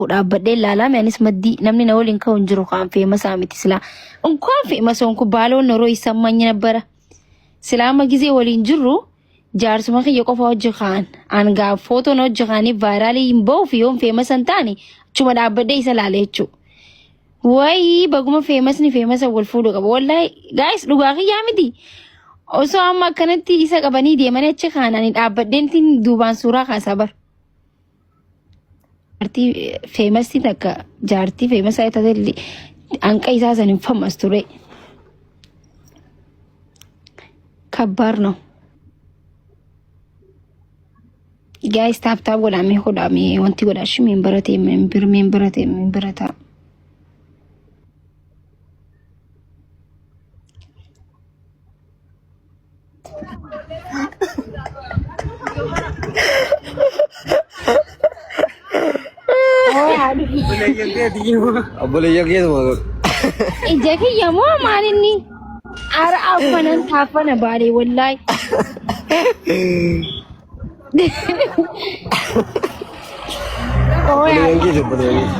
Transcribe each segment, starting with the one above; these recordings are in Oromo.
ka'u dhaabbadhee laalaame anis maddii namni na waliin ka'u hin jiru kaan feemasaa miti silaa unkaan feemasoon kun baaloo noroo isaan manyi nabbara silaa amma gizee waliin jirru jaarsuma kiyya qofa hojji kaan aangaa footoon hojji kaanii vaayiraalii hin ba'uuf yoon feemasa hin taane achuma dhaabbadhee isa laale jechuudha. Wayii baguma feemasni feemasa wal fuudhu qaba wallaahi gaa'is dhugaa kiyyaa miti. Osoo amma akkanatti isa qabanii deemanii achi kaananii dhaabbadheen duubaan suuraa kaasaa bara. Jaartii feemasii takka jaartii feemasaa yoo taate illee hanqa isaa san hin fammas ture. Kabbaar no. Gaayis taap taap godhaa mee hodhaa mee wanti godhaa shi meen baratee meen bir meen baratee meen barataa. Obboleeyya keetuma godhu. Ija kiyya moo maal inni? Ara affanan taaffana baale wallaahi. Obboleeyyan keeti obboleeyyan keeti.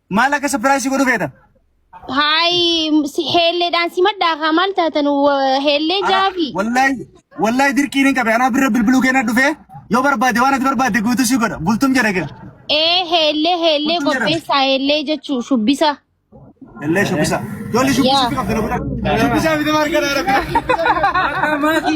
Maal akka sapiraayisii godhu feeta? Haay si- heelleedhaan si maddaa kaa maal taatan wa- heellee jaafi. Wallahi wallahi dirqiin hin qabe anaa birra bilbiluu keenya dhufee yoo barbaade waan ati barbaadde guutuu si godha bultum jedha kee. Ee heellee heellee Bultum jedhama. qopheessaa heellee jechuu shubbisa. Illee shubbisa. Ijoollee shubbisa Yaa. qabdi na godha. Shubbisa miti maal kana arabbi.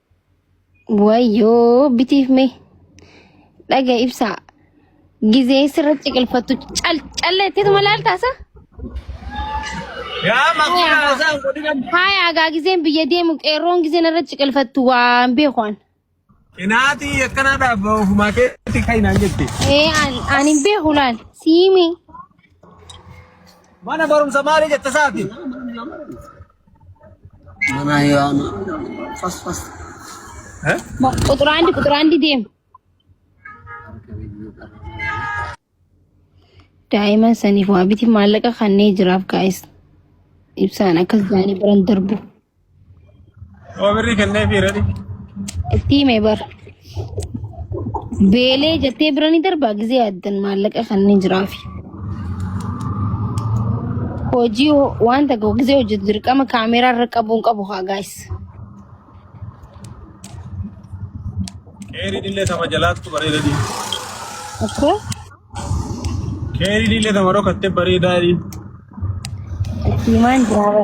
Wayyoo bitiif mee dhaga ibsaa gizee sirra ciqilfattu cal calleettitu malaal taasa. Yaa makiina haasaan godhinan. Haaya agaa gizeen biyya deemu qeerroon gizeen irra ciqilfattu waan beekuan. Inaatii akkanaa dhaabba ofumaa keetti kainaan jette. Ee an- an hin beeku laal siimi. Mana barumsa maali jette saati? Manaa yoo amma fas fas. Eh? Mo- Quxura handi quxura handi deem. Daa'iman saniif waa biti maallaqa kannee jiraaf gaa'is. Ibsaan akkas jaanii biran darbu. Yoo birrii kennee fi redhi. Itti hime bar. Beelee jettee bira ni darbaa gizee addan maallaqa kan ni jiraafi. Hojii ho- wanta ga'u gizee hojjetu dirqama kaameeraa irra qabuun qabu haa gaayis. Keeriin illee tama jalaattu bareeda diin. Akkoo Keeriin illee tama dhokatte bareedaa diin. itti himaan jiraaba.